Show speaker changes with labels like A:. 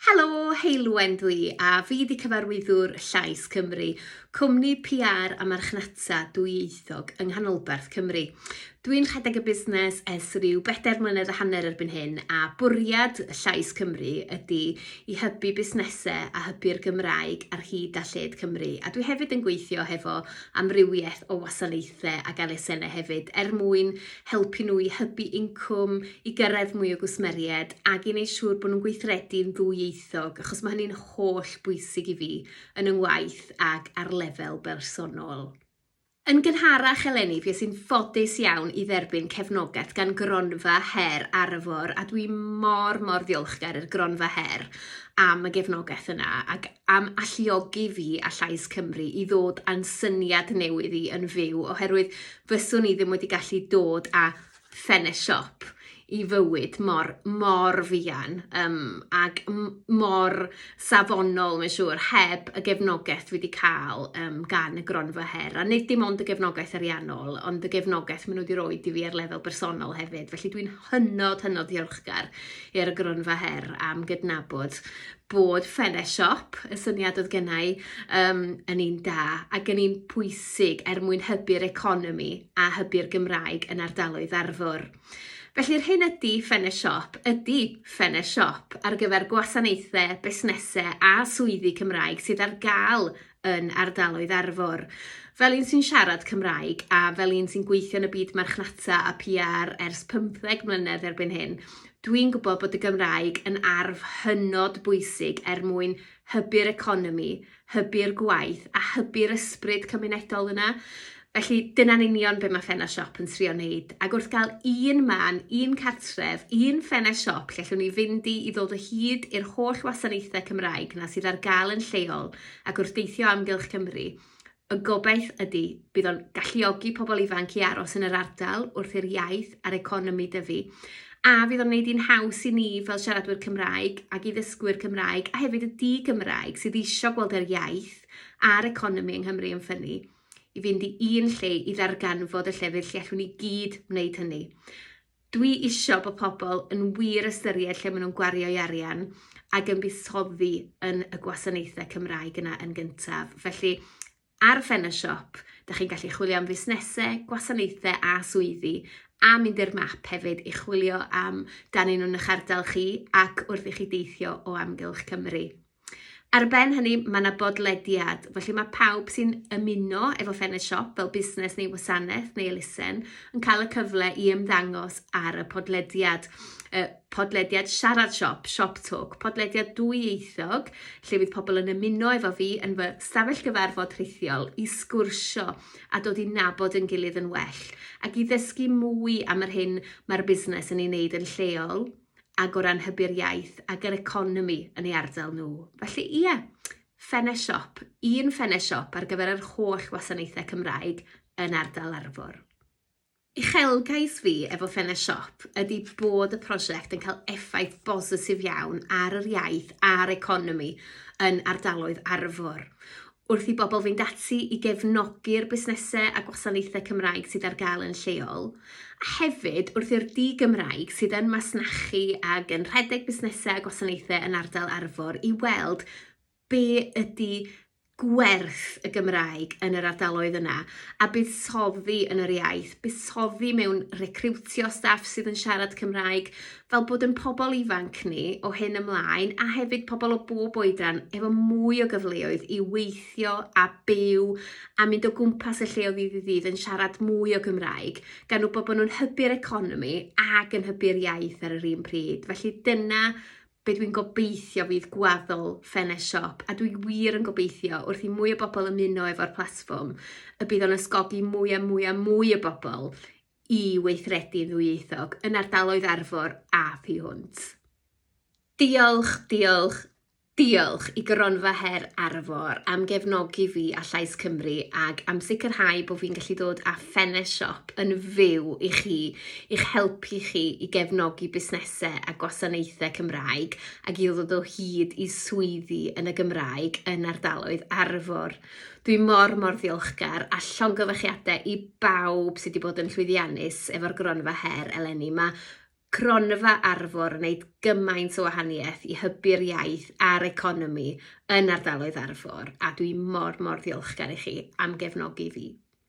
A: Helo, Heulwen dw i a fi 'di cyfarwyddwr Llais Cymru, cwmni PR a marchnata dwyieithog yng Nghanolbarth Cymru. Dw i'n rhedeg y busnes ers rhyw bedair mlynedd a hanner erbyn hyn a bwriad Llais Cymru ydy i hybu busnesau a hybu'r Gymraeg ar hyd a lled Cymru a dwi hefyd yn gweithio hefo amrywiaeth o wasanaethau ac elusennau hefyd er mwyn helpu nhw i hybu incwm, i gyrraedd mwy o gwsmeriaid ac i wneud siŵr bod nhw'n gweithredu'n ddwyieithog, achos mae hynny'n holl bwysig i fi yn yng ngwaith ac ar lefel bersonol. Yn gynharach eleni, fi sy'n ffodus iawn i dderbyn cefnogaeth gan Gronfa Her Arfor a dwi mor, mor ddiolchgar i'r Gronfa Her am y gefnogaeth yna ac am alluogi fi a Llais Cymru i ddod â'n syniad newydd i yn fyw oherwydd fyswn i ddim wedi gallu dod a ffenest siop i fywyd mor mor fuan um, ag mor safonol mae'n siŵr heb y gefnogaeth wedi cael um, gan y gronfa her a nid dim ond y gefnogaeth ariannol ond y gefnogaeth maen nhw wedi rhoi i fi ar lefel bersonol hefyd felly dwi'n hynod hynod ddiolchgar i'r gronfa her am gydnabod bod ffenest siop y syniad oedd gennau um, yn un da ac yn un pwysig bwysig er mwyn hybu'r economi a hybu'r Gymraeg yn ardaloedd Arfor. Felly, yr hyn ydy Ffene Siop ydy Ffene Siop ar gyfer gwasanaethau, busnesau a swyddi Cymraeg sydd ar gael yn ardaloedd Arfor. Fel un sy'n siarad Cymraeg a fel un sy'n gweithio yn y byd marchnata a PR ers 15 mlynedd erbyn hyn, dwi'n gwybod bod y Gymraeg yn arf hynod bwysig er mwyn hybu'r economi hybu'r gwaith a hybu'r ysbryd cymunedol yna. Felly, dyna'n union be mae Ffenest Siop yn trio wneud. Ac wrth gael un man, un cartref, un Ffenest Siop lle allwn ni fynd i i ddod o hyd i'r holl wasanaethau Cymraeg na sydd ar gael yn lleol ac wrth deithio amgylch Cymru, y gobaith ydy bydd o'n galluogi pobl ifanc i aros yn yr ardal wrth i'r iaith a'r economi dyfu. a fydd o'n gwneud hi'n haws i ni fel siaradwyr Cymraeg ac i ddysgwyr Cymraeg a hefyd y di-Gymraeg sydd eisiau gweld yr iaith a'r economi yng Nghymru yn ffynnu i fynd i un lle i ddarganfod y llefydd lle allwn ni gyd wneud hynny. Dwi eisiau bod pobl yn wir ystyried lle maen nhw'n gwario'i arian ac yn buddsoddi yn y gwasanaethau Cymraeg yna yn gyntaf. Felly, Ar Fen y Siop, da chi'n gallu chwilio am fusnesau, gwasanaethau a swyddi, a mynd i'r map hefyd i chwilio am dan un nhw'n eich ardal chi ac wrth i chi deithio o amgylch Cymru. Ar ben hynny, mae yna bodlediad, felly mae pawb sy'n ymuno efo Fen y Siop fel busnes neu wasanaeth neu elusen yn cael y cyfle i ymddangos ar y podlediad. podlediad Siarad Siop, Shop Talk, podlediad dwyieithog lle fydd pobl yn ymuno efo fi yn fy stafell gyfarfod rhithiol i sgwrsio a dod i nabod yn gilydd yn well ac i ddysgu mwy am yr hyn mae'r busnes yn ei wneud yn lleol ag o ran hybu'r iaith ag yr economi yn ei ardal nhw. Felly ie, Ffenest Siop, un Ffenest Siop ar gyfer yr holl wasanaethau Cymraeg yn ardal Arfor. Uchelgais fi efo Fenna Siop ydy bod y prosiect yn cael effaith bositif iawn ar yr iaith a'r economi yn ardaloedd Arfor. Wrth i bobl fynd ati i gefnogi'r busnesau a gwasanaethau Cymraeg sydd ar gael yn lleol, a hefyd wrth i'r di-Gymraeg sydd yn masnachu ac yn rhedeg busnesau a gwasanaethau yn ardal Arfor i weld be ydy gwerth y Gymraeg yn yr ardaloedd yna a buddsoddi yn yr iaith, buddsoddi mewn recriwtio staff sydd yn siarad Cymraeg, fel bod yn pobl ifanc ni o hyn ymlaen a hefyd pobl o bob oedran efo mwy o gyfleoedd i weithio a byw a mynd o gwmpas y lle o ddydd i ddydd yn siarad mwy o Gymraeg, gan wybod bod nhw'n hybu'r economi ac yn hybu'r iaith ar yr un pryd. Felly dyna be dwi'n gobeithio fydd gwaddol ffenest siop, a dwi wir yn gobeithio wrth i mwy o bobl ymuno efo'r platfform, y bydd o'n ysgogi mwy a mwy a mwy o bobl i weithredu'n ddwyieithog yn ardaloedd Arfor a thu hwnt. Diolch, diolch, diolch i Gronfa Her Arfor am gefnogi fi a Llais Cymru ag am sicrhau bod fi'n gallu dod â Fennes Shop yn fyw i chi, i'ch helpu chi i gefnogi busnesau a gwasanaethau Cymraeg ac i ddod o hyd i swyddi yn y Gymraeg yn ardaloedd Arfor. Dwi mor mor ddiolchgar a llongyfarchiadau i bawb sydd wedi bod yn llwyddiannus efo'r gronfa her eleni. Mae cronfa Arfor yn gwneud gymaint o wahaniaeth i hybu'r iaith a'r economi yn ardaloedd Arfor a dwi mor mor ddiolchgar i chi am gefnogi fi.